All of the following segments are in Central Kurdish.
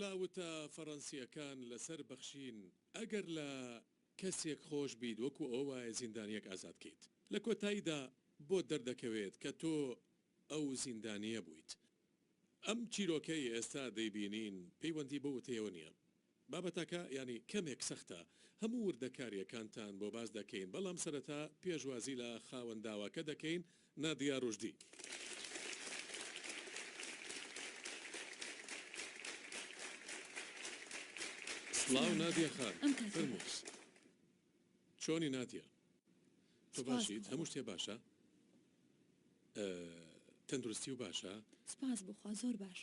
لە وتە فەڕەنسییەکان لەسەر بەخشین، ئەگەر لە کەسێک خۆش بیت وەکو ئەوە وایە زیندانییەک ئازاد کەیت. لە کۆتاییدا بۆت دەردەکەوێت کە تۆ ئەو زیندانییە بوویت. ئەم چیرۆکەی ئێستا دەیبینین پەیوەندی بەو وتەیەوە نییە. بابەتەکە یانی کەمێک سەختە هەموو وردەکاریەکانتان بۆ باس دەکەین بەڵام سەرەتا پێشوازی لە خاوەن داواکە دەکەین نادیا روشدی. سڵاو نادیە خان، فەرموو. چۆنی نادیە تۆ سپاس باشیت بخوا هەموو شتێ باشە ئە تەندروستی و باشە. سپاس بخوا زۆر باش.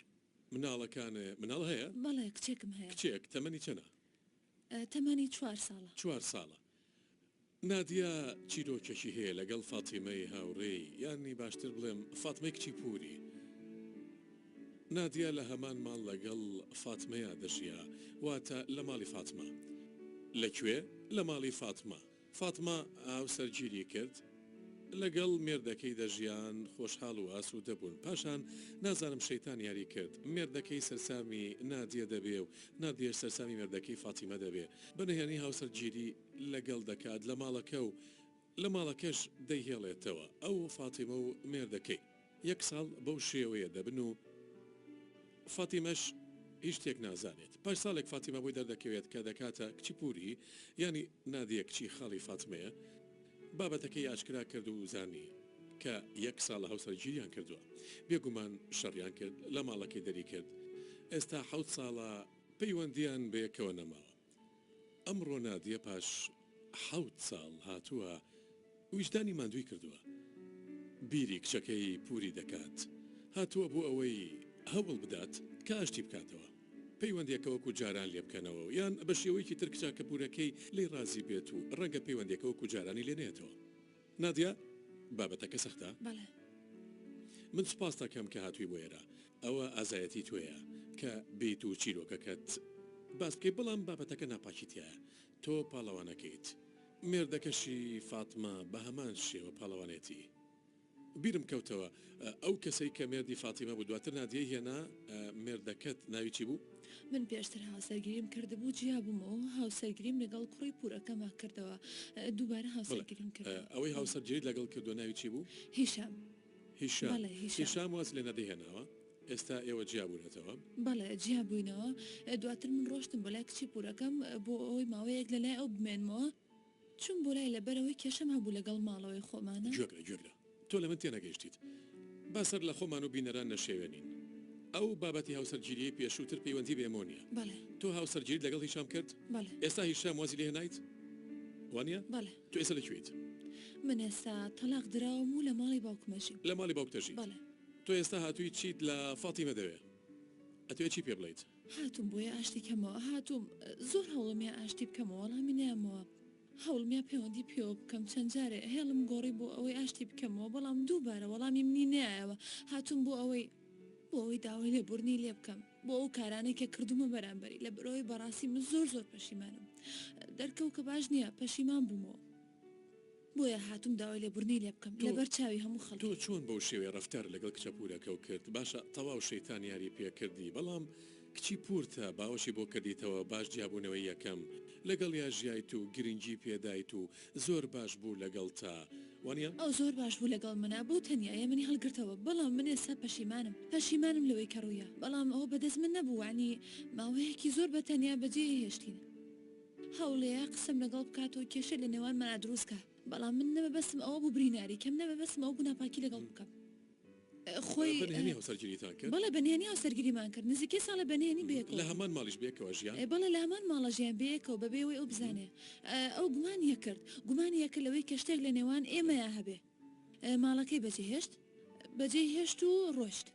مناڵەکان مناڵ هەیە؟ بەڵێ کچێکم هەیە. کچێک تەمەنی چەنە؟ ئە تەمەنی چوار ساڵە. چوار ساڵە نادیە چیرۆکێکی هەیە لەگەڵ فاتیمەی هاوڕێی یانی باشتر بڵێم فاتمەی کچی پوری. نادیە لە هەمان ماڵ لەگەڵ فاتمەیا دەژیا، واتە لە ماڵی فاتمە. لە کوێ؟ لە ماڵی فاتمە. فاتمە هاوسەرگیری کرد. لەگەڵ مێردەکەی دەژیان، خۆشحاڵ و ئاسوودە بوون. پاشان نازانم شەیتان یاری کرد. مێردەکەی سەرسامی نادیە دەبێ و نادیەش سەرسامی مێردەکەی فاتیمە دەبێ. بە نهێنی هاوسەرگیری لەگەڵ دەکات لە ماڵەکە و. لە ماڵەکەش دەیهێڵێتەوە ئەو و فاتیمە و مێردەکەی یەک ساڵ بەو شێوەیە دەبن و فاتیمەش هیچ شتێک نازانێت پاش ساڵێک فاتیمە بۆی دەردەکەوێت کە دەکاتە کچی پوری یانی نادیە کچی خاڵی فاتمەیە بابەتەکەی ئاشکرا کرد و زانی کە یەک ساڵە هاوسەرگیریان کردوە بێگومان شەڕیان کرد لە ماڵەکەی دەری کرد ئێستا حەوت ساڵە پەیوەندیان بەیەکەوە نەماوە. ئەمڕۆ نادیە پاش حەوت ساڵ هاتووە ویژدانی ماندووی کردووە بیری کچەکەی پوری دەکات هاتووە بۆ ئەوەی هەوڵ بدات کە ئاشتی بکاتەوە پەیوەندیەکە وەکو جاران لێ بکەنەوە یان بەشێوەیەکی تر کچاکە پورەکەی لێی ڕازی بێت و ڕەنگە پەیوەندیەکە وەکو جارانی لێ نەیەتەوە نادیا، بابەتەکە سەختە؟ بەڵێ. من سوپاست دەکەم کە هاتووی بۆ ئێرە. ئەوە ئازایەتی تۆیە کە بیت و چیرۆکەکەت باس بکەی بەڵام بابەتەکە ناپاکی تیایە. تۆ پاڵەوانەکەیت. مێردەکەشی، فاتمە، بە هەمان شێوە پاڵەوانێتی. بیرم کەوتەوە ئەو کەسەی کە مێردی فاتیمە بوو دواتر نادیەی هێنا مێردەکەت ناوی چی بوو؟ من پێشتر هاوسەرگیریم کردبوو جیابوومەوە هاوسەرگیریم لەگەڵ کوڕی پورەکەمە کردەوە دووبارە هاوسەرگیریم کردەوە. ئەوەی هاوسەرگیریت لەگەڵ کردووە ناوی چی بوو؟ هیشام. هیشام بەڵێ هیشام. هیشام واز لێ نەدی هێناوە ئێستا ئێوە جیابوونەتەوە؟ بەڵێ جیابووینەوە دواتر من ڕۆشتم بۆ لای کچی پورەکەم بۆ ئەوەی ماوەیەک لەلای ئەو بمێنمەوە. چووم بۆ لای لەبەرئەوەی کێشەم هەبوو لەگەڵ ماڵەوەی خۆمانا. گوێبگرە گوێبگرە تۆ لەمن تێنەگەیشتیت با سەر لە خۆمان و بینەران نەشێوێنین ئەو بابەتی هاوسەرگیریەی پێشوو تر پەیوەندی بە ئێمەوە نیە بەڵێ. تۆ هاوسەرگیریت لەگەڵ هیشام کرد بەڵێ. ئێستا هیشام وازی لێ هێنایت وانیە؟ بەڵێ. تۆ ئێستا لە کوێیت؟ من ئێستا تەڵاق دراوم و لە ماڵی باوکمە ژیم. لە ماڵی باوکتە ژیت؟ بەڵێ. تۆ ئێستا هاتوویت چیت لە فاتیمە دەوێ ئەتوێ چی پێ بڵێیت؟ هاتووم بۆیە ئاشتی کەمەوە هاتووم زۆر هەوڵمیا ئاشتی بکەمەوە وەڵامی نەیامەوە هەوڵمیا پەیوەندی پێوە بکەم چەند جارێ هێڵم گۆڕی بۆ ئەوەی ئاشتی بکەمەوە بەڵام دووبارە وەڵامی منی نەیایەوە هاتووم بۆ ئەوەی بۆ ئەوەی داوای لێبوردنی لێ بکەم بۆ ئەو کارانەی کە کردومە بەرامبەری لە بەرەوەی بەڕاستی من زۆر زۆر پەشیمانم دەرکەوت کە باش نییە پەشیمان بوومەوە. بۆیە هاتووم داوای لێبوردنی لێ بکەم تۆ لەبەر چاوی هەموو خەڵک. تۆ چۆن بەو شێوەیە ڕەفتار لەگەڵ کچە پوورەکەو کرد باشە تەواو شەیتان یاری پێکردی بەڵام کچی پوورتە باوەشی بۆ کردیتەوە باش جیابوونەوەی یەکەم لەگەڵیا ژیایت و گرنگی پێدایت و زۆر باش بوو لەگەڵتا وانیە؟ ئەو زۆر باش بوو لەگەڵ منا بۆ تەنیا یە منی هەڵگرتەوە بەڵام من ئێستا پەشیمانم پەشیمانم لەوەی کە ڕوویا بەڵام ئەوە بەدەست من نەبوو وانی ماوەیەکی زۆر بەتەنیا بەجێی هێشتین. هەوڵێ قسەم لەگەڵ بکات و کێشەی لە نێوانمانا دروست کا بەڵام من نە مەبەستم ئەوە بوو بریناری کەم نە مەبەستم ئەوە بوو ناپاکی لەگەڵ بکەم خۆی بە نهێنی هاوسەرگیریتان کرد؟ بەڵێ بە نهێنی هاوسەرگیریمان کرد نزیکەی ساڵێ بە نهێنی بەیەکەوە بووین. لە هەمان ماڵیش بەیەکەوە ژیان؟ بەڵێ لە هەمان ماڵە ژیاین بەیەکەوە بەبێ ئەوەی ئەو بزانێ ئەو گومانی یەکرد گومانی یەکرد لەوەی کە شتێک لە نێوان ئێمەیا هەبێ. ماڵەکەی بەجێهێشت بەجێی هێشت و ڕۆشت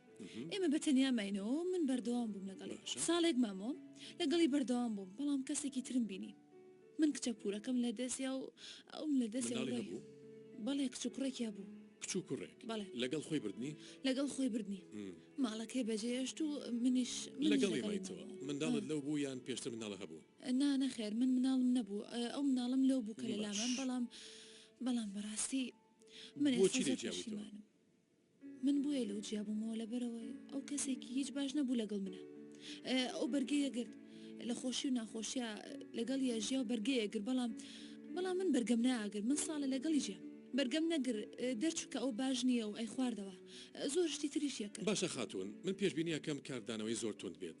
ئێمە بە تەنیا ماینەوە من بەردەوام بووم لەگەڵی ساڵێک مامۆ لەگەڵی بەردەوام بووم بەڵام کەسێکی ترم بینی من کچە پورەکەم لە دەستیا و ئەوم لە دەست بوو بەڵێ کچ و کوڕێکیا بوو کچ و کوڕێک بەڵێ لەگەڵ خۆی بردنی لەگەڵ خۆی بردنی ماڵەکەی بەجێشت و منیش لەگەڵی مایتەوە منداڵت لەو بوو یان پێشتر مناڵە هەبوو نا نەخێر من مناڵم نەبوو ئەو مناڵم لەو بوو کە لەلامان بەڵام بەڵام بەڕاستی من ئێستا زۆر پەشیمانم من بۆیە لەو جیا بوومەوە لەبەرەوەی ئەو کەسێکی هیچ باش نەبوو لەگەڵ منە ئەو بەرگەیە گرت لە خۆشی و ناخۆشیە لەگەڵ یاژیا و بەرگەیە گر بەڵام بەڵام من بەرگەم ناگر من ساڵە لەگەڵی جیا بەرگەم نەگر دەرچووکە ئەو باش نییە و ئەی خواردەوە زۆر شتی تریشیەکە باشە خاتون من پێشببینیەکەم کاردانەوەی زۆر تند بێت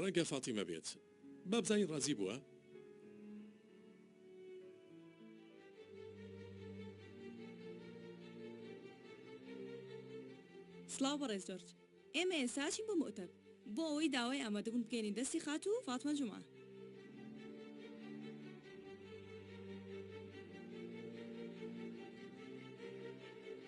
ڕەنگە فاتیمە بێت بابزانین ڕازی بووە. سڵاو بەڕێز جۆرج ئێمە ئێستا ئەچین بۆ مۆتەب بۆ ئەوەی داوای ئامادەبوون بگەینین دەستی خاتوو فاتمە جومعە.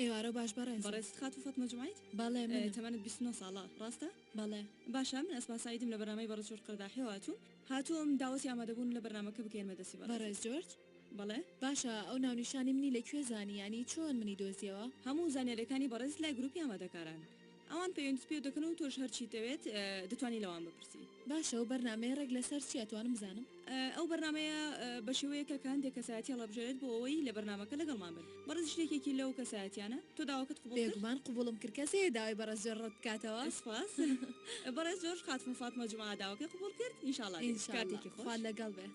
ئێوارە باش بەڕێزم. بەڕێز خاتوو فاتمە جومعەیت؟ بەڵێ منم. تەمەنت بیست و نۆ ساڵە ڕاستە؟ بەڵێ. باشە من ئەسما سەعیدم لە بەرنامەی بەڕێز جۆرج قەرداحیەوە هاتووم. هاتووم داوەتی ئامادەبوون لە بەرنامەکە بکەین بەدەستی بەڕێزت. بەڕێز جۆرج؟ بەڵێ. باشە ئەو ناونیشانی منی لە کوێ زانی یانی چۆن منی دۆزیەوە؟ هەموو زانیاریەکانی بەڕێزت لای گروپی ئامادەکاران. ئەوان پەیوەندیت پێ دەکەن و تۆش هەر چیتەوێت دەتوانی لەوان بپرسی. باشە ئەو بەرنامەیە ڕێک لە سەر چیە توانم بزانم؟ ئەو بەرنامەیە بە شێوەیەکە کە هەندێک کەسایەتی هەڵەبژێرێت بۆ ئەوەی لە بەرنامەکە لەگەڵمان بن. بەڕێز ژن یەکێکی لەو کەسایەتیانە. تۆ داواکەت قبوڵ کرد؟ بێگومان قبوڵم کرد کەس هەیە داوای بەڕێز جۆرج ڕەت بکاتەوە؟ سپاس بەڕێز جۆرج خاتوون فاتمە جومعە داواکەی قبوڵ کرد ان شاء اللە دێت. ان شاء اللە خوات لەگەڵ بێ.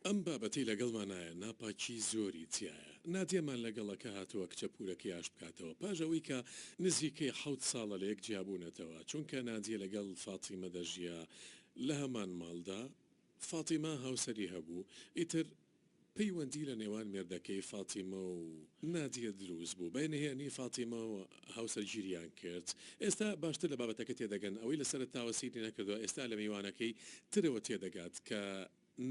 ئەم بابەتەی لەگەڵمانایە ناپاکی زۆری تیایە نادیەمان لەگەڵە کە هاتوە کچە پورەکەی ئاشت بکاتەوە پاش ئەوەی کە نزیکەی حەوت ساڵە لەیەک جیابونەتەوە چونکە نادیە لەگەڵ فاتیمە دەژیا لەهەمان ماڵدا فاتیمە هاوسەری هەبو ئیتر پەیوەندی لەنێوان مێردەکەی فاتیمە و نادیە دروست بو بەنهێنی فاتیمە هاوسەرگیریان کرد ئێستا باشتر لە بابەتەکە تێدەگەن ئەوەی لە سەرەتاوە سەیری نەکردوە ئێستا لە میوانەکەی ترەوە تێدەگات کە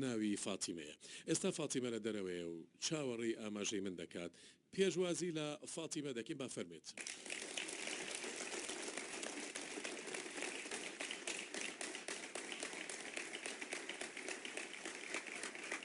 ناوی فاتیمەیە ئێستا فاتیمە لە دەرەوەیە و چاوەڕێی ئاماژەی من دەکات پێشوازی لە فاتیمە دەکەین با فەرمێت.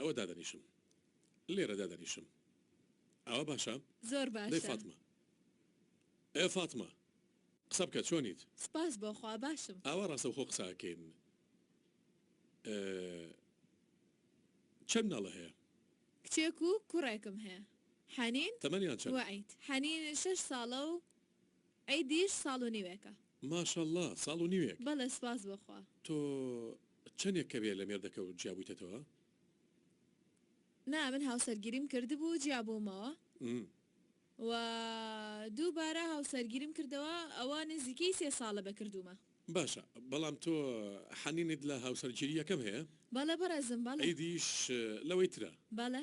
ئەوە دادەنیشم لێرە دادەنیشم ئاوا باشە؟ زۆر باشە. دەی فاتمە. ئێ فاتمە قسە بکە چۆنیت؟ سپاس بۆ خوا باشم. ئاوا ڕاستەوخۆ قسە ئەکەین چەند مناڵە هەیە؟ کچێک و کوڕێکم هەیە حەنین. تەمەنیان چەند؟ وەعید. حەنین شەش ساڵە و عیدیش ساڵ و نیوێکە. ماشااللە ساڵ و نیوێک. بەڵێ سوپاس بۆ خوا. تۆ چەنێک کەوێ لە مێردەکەوت جیابویتەتەوە؟ نا من هاوسەرگیریم کردبوو جیابوومەوە و دووبارە هاوسەرگیریم کردەوە ئەوە نزیکەی سێ ساڵە بە کردوومە. باشە بەڵام تۆ حەنینت لە هاوسەرگیریەکەم هەیە؟ بەڵێ بەڕێزم بەڵێ. عیدیش لەوەی ترە؟ بەڵێ.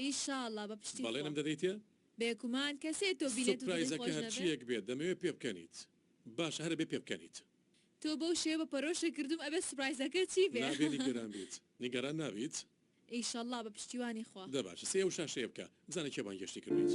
ئیشاڵا بە پشتی بەڵێنم خۆم. دەدەیت؟ بێگومان کەسێ تۆ بینێت و دڵی سوپرایزەکە خۆش نەبێ. هەرچییەک بێت دەمەوێ پێ بکەنیت. باشە هەر ئەبێ پێ بکەنیت. تۆ بەو شێوە بە پەرۆشە کردووم ئەبێ سوپرایزەکە چی بێ؟ نابێ نیگەران بیت. نیگەران نابیت؟ ئیشەڵڵا بە پشتیوانی خوا. دە باشە سەی ئەو شاشەیە بکە بزانە کێ بانگێشتی کردوویت.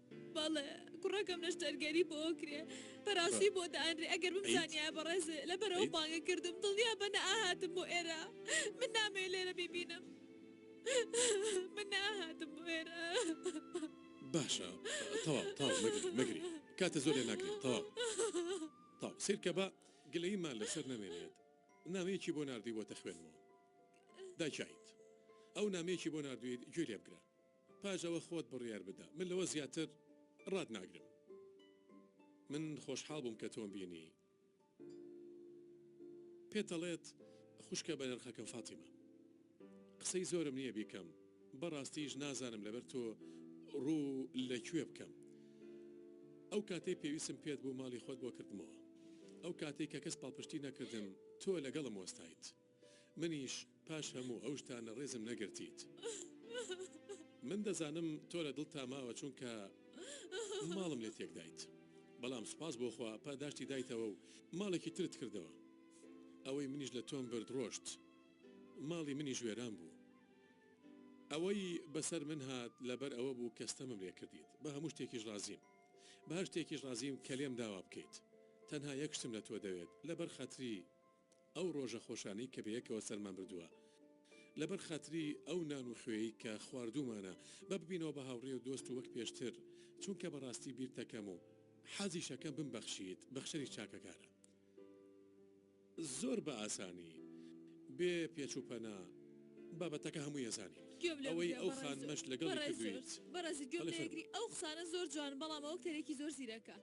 بەڵێ کوڕەکەم نەشتەرگەری بۆ ئەکرێ پەراستی بۆ دانرێ ئەگەر بمزانیایە بەڕێز لەبەرەوە بانگە کردم دڵنیا بە نەئاهاتم بۆ ئێرە من نامەوێ لێرە بیبینم من نەئاهاتم بۆ ئێرە باشە تەواو تەواو مەگری مەگری کاتە زۆر لێ ناگرێ تەواو تەواو سەیر کە با گلەییمان لەسەر نەمێنێت نامەیەکی بۆ ناردوویوەتە خوێنمەوە داکیت ئەو نامەیەکی بۆ ناردوویت گوێ لێ بگرە پاش ئەوە خۆت بڕیار بدە من لەوە زیاتر ڕات ناگرم من خۆشحاڵ بووم کە تۆم بینی پێت ئەڵێت خوشکە بەنرخەکەم فاتیمە قسەی زۆرم نییە بیکەم بەڕاستیش نازانم لەبەر تۆ ڕوو لە کوێ بکەم ئەو کاتەی پێویستم پێت بوو ماڵی خۆت بۆ کردمەوە ئەو کاتەی کە کەس پاڵپشتی نەکردم تۆ لەگەڵم وەستایت. منیش پاش هەموو ئەو شتانە ڕێزم نەگرتیت. من دەزانم تۆ لە دڵتا ماوە چونکە ماڵم لێ تێکدایت. بەڵام سوپاس بۆ خوا پاداشتی دایتەوە و ماڵێکی ترت کردەوە. ئەوەی منیش لە تۆم برد ڕۆشت. ماڵی منیش وێران بوو. ئەوەی بەسەر من هات لەبەر ئەوە بوو کە ستەمم لێ کردیت. بە هەموو شتێکیش ڕازیم. بە هەر شتێکیش ڕازیم کە لێم داوا بکەیت. تەنها یەک شتم لە تۆ دەوێت لەبەر خاتری. ئەو ڕۆژە خۆشانەی کە بەیەکەوە سەرمان بردووە. لەبەر خاتری ئەو نان و خوێی کە خواردوومانە، با ببینەوە بە هاوڕێ و دۆست وەک پێشتر، چونکە بەڕاستی بیرتەکەم و حەزیشەکەم بمبەخشیت، بەخشەری چاکەکانە. زۆر بە ئاسانی، بێ پێچ و پەنا، بابەتەکە هەمووی ئەزانی. گوێم لێ بگرە بەڕێزو بەڕێزو بەڕێزو بەڕێزو گوێم لێ گری ئەو قسانە زۆر جوانن بەڵام ئەوە کەرێکی زۆر زیرەکە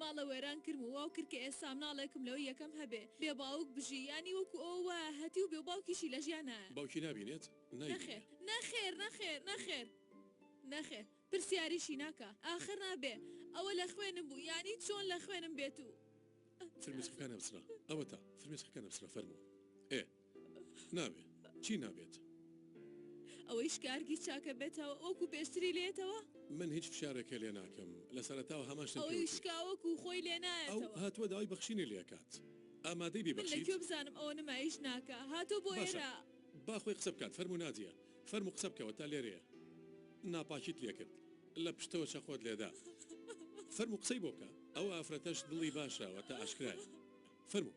ماڵە وێران کرم و واو کرد کە ئێستا مناڵێکم لەوەی یەکەم هەبێ بێ باوک بژی یانی وەکو ئەوە وایە هەتیو بێ باوکیشی لە ژیان نایە. باوکی نابینێت نایبینێ. نەخێر نەخێر نەخێر نەخێر نەخێر پرسیاریشی ناکا ئاخر نابێ ئەوە لە خوێنم بوو یانی چۆن لە خوێنم بێت و ئەخ. فرمێسکەکان ئەبسرا ئەوەتا فرمێسکەکان ئەبسرا فەرموو ئێ. نابێ چی نابێت؟ ئەوەیش کارگی چاکە بێتەوە وەکو پێشتری لێتەوە؟ من هیچ فشارێکێ لێ ناکەم لە سەرەتاوە هەمان شتم پێ وتی. ئەوەی شکا وەکو خۆی لێ نایەتەوە. ئەو هاتووە داوای بەخشینی لێ کات ئامادەی بی بەخشیت؟ من لە کوێ بزانم ئەوە نمایش ناکا هاتووە بۆ ئێرە؟ باشە با خۆی قسە بکات فەرموو نادیە فەرموو قسە بکەوە تا لێرەیە ناپاکیت لێ کرد لە پشتەوە چەقۆت لێ دا فەرموو قسەی بۆ بکە ئەو ئافرەتەش دڵی باشە واتە ئاشکرایە فەرموو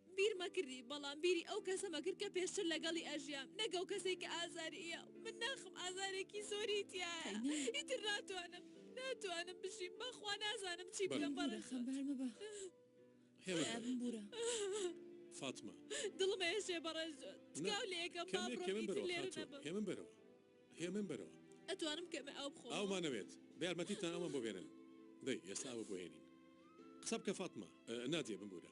بیر مەکردی بەڵام بیری ئەو کەسە مەکرد کە پێشتر لەگەڵی ئەژیام نەک ئەو کەسەی کە ئازاری ئیە و من ناخم ئازارێکی زۆری تیایە ئیتر ناتوانم ناتوانم بژیم بەخوا نازانم چی بکەم بەڕێزت. ببورە خەمبار مەبە خوایە بمبورە. فاتمە. دڵم ئێشێ بەڕێزت تکاو لێکەم با بڕۆم ئیتر لێرە نەبم. هێمن بەرەوە هێمن بەرەوە. ئەتوانم کەمێ ئاو بخۆمەوە. ئاومان ئەوێت بە یارمەتیتان ئەومان بۆ بێنن دەی ئێستا ئاوە بۆ هێنین قسە بکە فاتمە. نادیە بمبورە.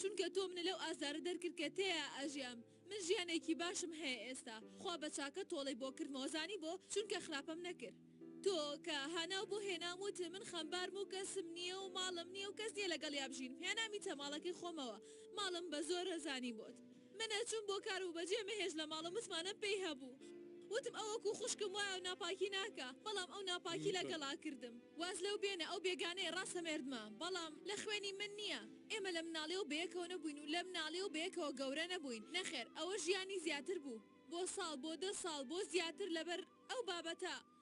چونکە تۆ منە لەو ئازارە دەرکرد کە تێیا ئەژیام من ژیانێکی باشم هەیە ئێستا خوا بە چاکە تۆڵەی بۆ کردمەوە زانی بۆ چونکە خراپەم نەکرد تۆ کە هاناو بۆ هێنام وت من خەمبارم و کەسم نیە و ماڵم نیە و کەس نیە لەگەڵیا بژینم هێنامیتە ماڵەکەی خۆمەوە ماڵم بە زۆرە زانی بۆت من ئەچووم بۆ کار و بەجێ مەهێشت لە ماڵە متمانەم پێی هەبوو وتم ئەو وەکو خوشکم وایە و ناپاکی ناکا بەڵام ئەو ناپاکی لەگەڵا کردم واز لەو بێنە ئەو بێگانەیە ڕاستە مێردمە بەڵام لە خوێنی من نییە ئێمە لە مناڵیەوە بەیەکەوە نەبووین و لە مناڵیەوە بەیەکەوە گەورە نەبووین نەخێر ئەوە ژیانی زیاتر بوو بۆ ساڵ بۆ دە ساڵ بۆ زیاتر لەبەر ئەو بابەتە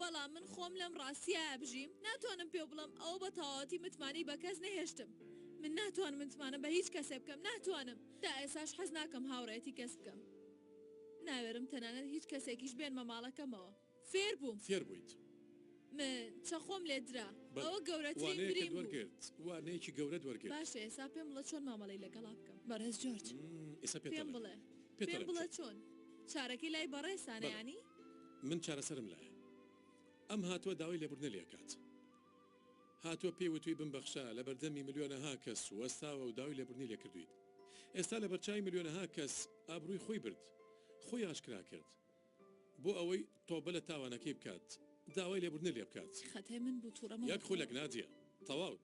بەڵام من خۆم لەم ڕاستییە ئەبژیم، ناتوانم پێو بڵێم ئەوە بە تەواوەتی متمانەی بە کەس نەهێشتم. من ناتوانم متمانە بە هیچ کەسێ بکەم، ناتوانم. تا ئێساش حەز ناکەم هاوڕێیەتی کەس بکەم. ناوێرم تەنانەت هیچ کەسێکیش بێنمە ماڵەکەمەوە. فێر بووم. فێر بوویت. من چەقۆم لێ درا. بەڵێ. ئەوە گەورەترین وانەیەکت برین بوو. وەرگرت. وانەیەکی گەورەت وەرگرت. باشە ئێسا پێم بڵە چۆن مامەڵەی لەگەڵا بکەم. بەڕێز جۆرج. ئێسا پێت پێم دەڵێم. بڵێ. پێت پێم دەڵێم بڵێ چۆن. چۆن. چارەکەی لای بەڕێزتانە بەڵێ. یانی؟ من چارەسەرم لایە. ئەم هاتوە داوای لێبوردنە لێ ئەکات. هاتوە پێی وتوی بمبەخشە لە بەردەمی ملیۆنەها کەس وەستاوە و داوای لێبوردنی لێ کردویت. ئێستا لە بەرچاوی ملیۆنەها کەس ئابروی خۆی برد. خۆی ئاشکرا کرد. بۆ ئەوەی تۆبە لە تاوانەکەی بکات داوای لێبوردنە لێ بکات. خەتای من بوو توڕەمە بە خۆم. یەک خولەک نادیە. تەواو.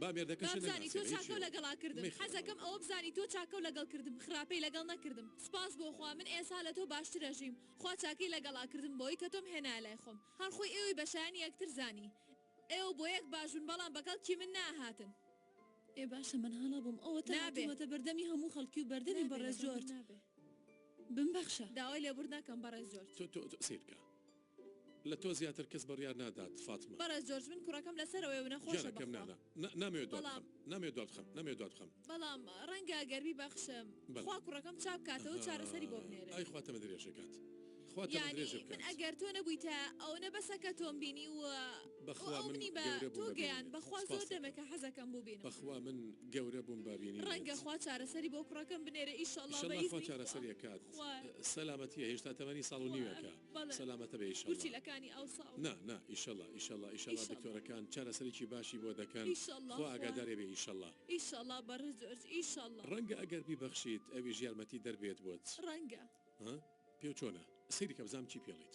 با مێردەکەشی نەناسێ بابزانی تۆ چاکەو لەگەڵا کردم حەزەکەم ئەوە بزانی تۆ چاکەو لەگەڵ کردم خراپەی لەگەڵ نەکردم سوپاس بۆ خوا من ئێسا لە تۆ باشترە ژیم خوا چاکەی لەگەڵا کردم بەوەی کە تۆم هێنایە لای خۆم هەر خۆی ئێوەی بە شایەنی یەکتر زانی ئێوە بۆ یەک باش بوون بەڵام بەگەڵ کی من ناهاتن ئێ باشە من هەڵە بووم ئەوەتە هاتوومەتە بەردەمی هەموو خەڵکی و بەردەمی بەڕێز جۆرج بمبەخشە. داوای لێبوردن ئەکەم بەڕێز جۆرج. تۆ تۆ سەیربکە. لە تۆ زیاتر کەس بڕیار نادات فاتمە. بەڕێز جۆرج من کوڕەکەم لەسەرەوەیە و نەخۆشە گیانەکەم نا بەخوا. نا نا نامەوێت دوا بەڵام. بخەم نامەوێت دوا بخەم نامەوێت دوا بخەم. بەڵام ڕەنگە گەر بیبەخشم بەلێ. خوا کوڕەکەم چاک کاتەوە چارەسەری بۆ ئەهای بنێرێت. ئای خوا تەمەن درێژێ کات خوا تەمەن یانی درێژێ من بکات. ئەگەر تۆ نەبویتایە ئەونە بەسە کە تۆم بینی و و بەخوا ئەو من منی بە گەورە بووم تۆ بە گەیاند بینینت بەخوا زۆر سوپاست دەکەم. دەمێکە حەزەکەم بوبینم. بەخوا من گەورە بووم بە ڕەنگە بینینت. خوا چارەسەری بۆ کوڕەکەم بنێرێ ئیشەڵا بە ئیشەڵا خوا ئیزنی خوا. چارەسەری ئەکات خوایە. سەلامەتیە هێشتا تەمەنی ساڵ و خوایە. نیوێکە. سەلامەتە بێ ئیشەڵا نا نا ئیشەڵا ئیشەڵا ئیشەڵا دکتۆرەکان چارەسەرێکی باشی بۆ دەکەن خوا ئاگادارێ بێ ئیشەڵا ڕەنگە ئەگەر بیبەخشیت ئەویش یارمەتی دەر بێت بۆت ها پێو چۆنە سەیری کە بزام چی پێڵیت.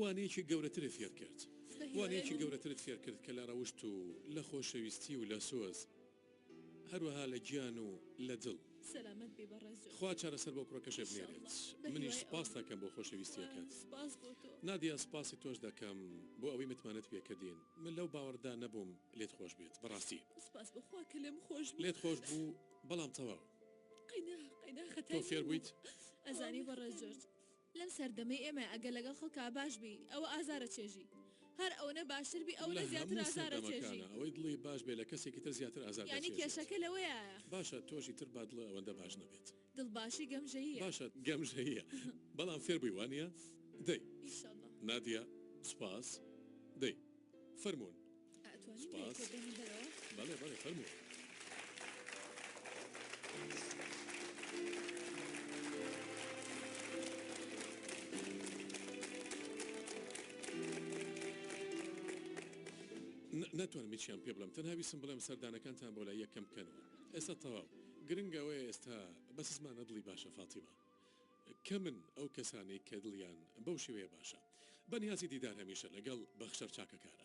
وانەیەکی گەورەترت فێر کرد؟ وانەیەکی گەورەترت فێر کرد کە لە ڕەوشت و لە خۆشەویستی و لە سۆز هەروەها لە گیان و لە دڵ. سەلامەت بی بەڕێز جۆن. خوا چارەسەر بۆ کوڕەکەشت بنێرێت. منیش سپاست ئەکەم بۆ خۆشەویستیەکەت. نادیا سپاسی تۆش دەکەم بۆ ئەوەی متمانەت پێ کردین. من لەو باوەڕەدا نەبووم لێت خۆش بێت بەڕاستی. سپاس بۆ خوا کە لێم خۆش بوو. لێت خۆش بوو بەڵام تەواو. تۆ فێر بوویت؟ ئەزانی بەڕێز جۆرج. لەم سەردەمەی ئێمە ئەگەر لەگەڵ خەڵکا باش بی ئەوە ئازارە چێژی هەر ئەونە باشتر بی ئەونە زیاتر ئازارە چێژی. لەهەموو سەردەمەکانا ئەوەی دڵی باش بێ لە کەسێکی تر زیاتر ئازار یانی دەچێژێت. کێشەکە لەوەیایە. باشە تۆشی تر با دڵە ئەوەندە باش نەبێت. دڵ باشی گەمژەییە. باشە گەمژەییە بەڵام فێر بووی وانیە؟ دەی. ئیشەڵا. نادیە سوپاس دەی. فەرموون سوپاس بەڵێ بەڵێ فەرموون. ناتوانم هیچیان پێ بڵێم تەنها ویستم بڵێم سەردانەکانتان بۆ لای یەکەم بکەنەوە ئێستا تەواو گرنگ ئەوەیە ئێستا بەسزمانە دڵی باشە فاتیمە. کەمن ئەو کەسانەی کە دڵیان بەو شێوەیە باشە. بە نیازی دیدار هەمیشە لەگەڵ بەخشەر چاکەکارە.